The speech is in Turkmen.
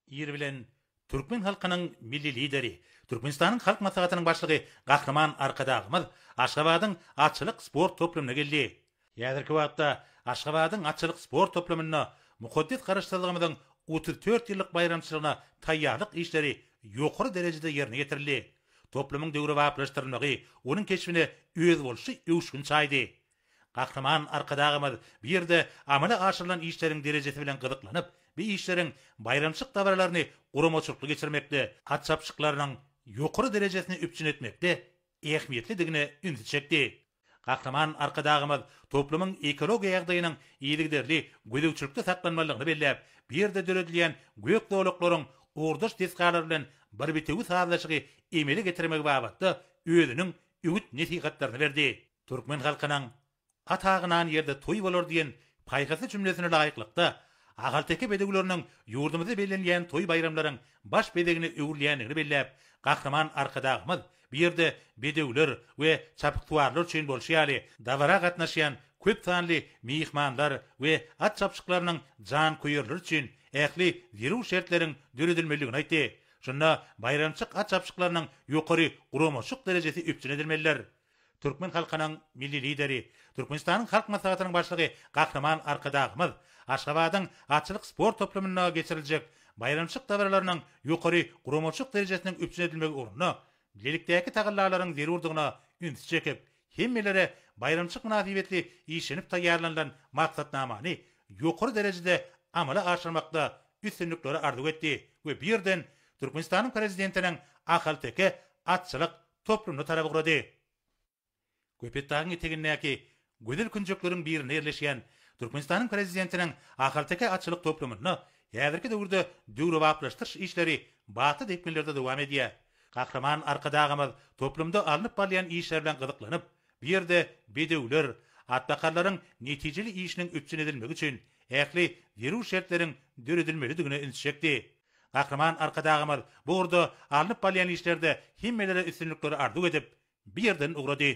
Ir bilen türkmen halkynyň Milli Lideri, Türkmenistanyň Halk Maslahatynyň Başlygy Gahryman Arkadagymyz Aşgabadyň atçylyk sport toplumyna geldi. Häzirki wagtda Aşgabadyň atçylyk sport toplumynda mukaddes Garaşsyzlygymyzyň otuz dört ýyllyk baýramçylygyna taýýarlyk işleri ýokary derejede ýerine ýetirildi. Toplumyň döwrebaplaşdyrylmagy onuň keşbine özboluşly öwüşgin çaýdy. Gahryman Arkadagymyz bu ýerde amala aşyrylan işleriň derejesi bilen gyzyklanyp, bu işleriň baýramçylyk dabaralaryny guramaçylykly geçirmekde, at çapyşyklarynyň ýokary derejesini üpjün etmekde ähmiýetlidigine ünsi çekdi. Gahryman Arkadagymyz toplumyň ekologiýa ýagdaýynyň yzygiderli gözegçilikde saklanmalydygyny belläp, bu ýerde döredilýän gök zolaklaryň ugurdaş desgalar bilen bir bitewi sazlaşygy emele getirmegi babatda özüniň öwüt-nesihatlaryny berdi. Türkmen halkynyň At agynan ýerde toý bolar diýen paýhasly jümlesine laýyklykda, ahalteke bedewleriniň ýurdumyzda bellenilýän toý-baýramlaryň baş bezegine öwrülýändigini belläp, Gahryman Arkadagymyz bu ýerde bedewler we çapyksuwarlar üçin bolşy ýaly, dabara gatnaşýan köp sanly myhmanlar we at çapyşyklarynyň janköýerleri üçin ähli zerur şertleriň döredilmelidigini aýtdy. Şunda baýramçyk at çapyşyklarynyň ýokary guramaçylyk derejesi üpjün edilmelidir. Türkmen halkynyň Milli Lideri, Türkmenistanyň Halk Maslahatynyň Başlygy Gahryman Arkadagymyz Aşgabadyň atçylyk sport toplumynda geçiriljek baýramçylyk dabaralarynyň ýokary guramaçylyk derejesiniň üpjün edilmegi ugrunda bilelikdäki tagallalaryň zerurdygyna ünsi çekip, hemmelere baýramçylyk mynasybetli işlenip taýýarlanylan maksatnamany ýokary derejede amala aşyrmakda üstünlikleri arzuw etdi we bu ýerden Türkmenistanyň Prezidentiniň ahalteke atçylyk toplumyna tarap ugrady. Köpetdagyň etegindäki gözel künjekleriň birinde ýerleşýän Türkmenistanyň Prezidentiniň ahalteke atçylyk toplumynda häzirki döwürde döwrebaplaşdyryş işleri batly depginlerde dowam edýär. Gahryman Arkadagymyz toplumda alnyp barylýan işler bilen gyzyklanyp, bu ýerde bedewler, atbakarlaryň netijeli işiniň üpjün edilmegi üçin ähli zerur şertleriň döredilmelidigine üns çekdi. Gahryman Arkadagymyz bu ugurda alnyp barylýan işlerde hemmelere üstünlikleri arzuw edip, bu ýerden ugrady.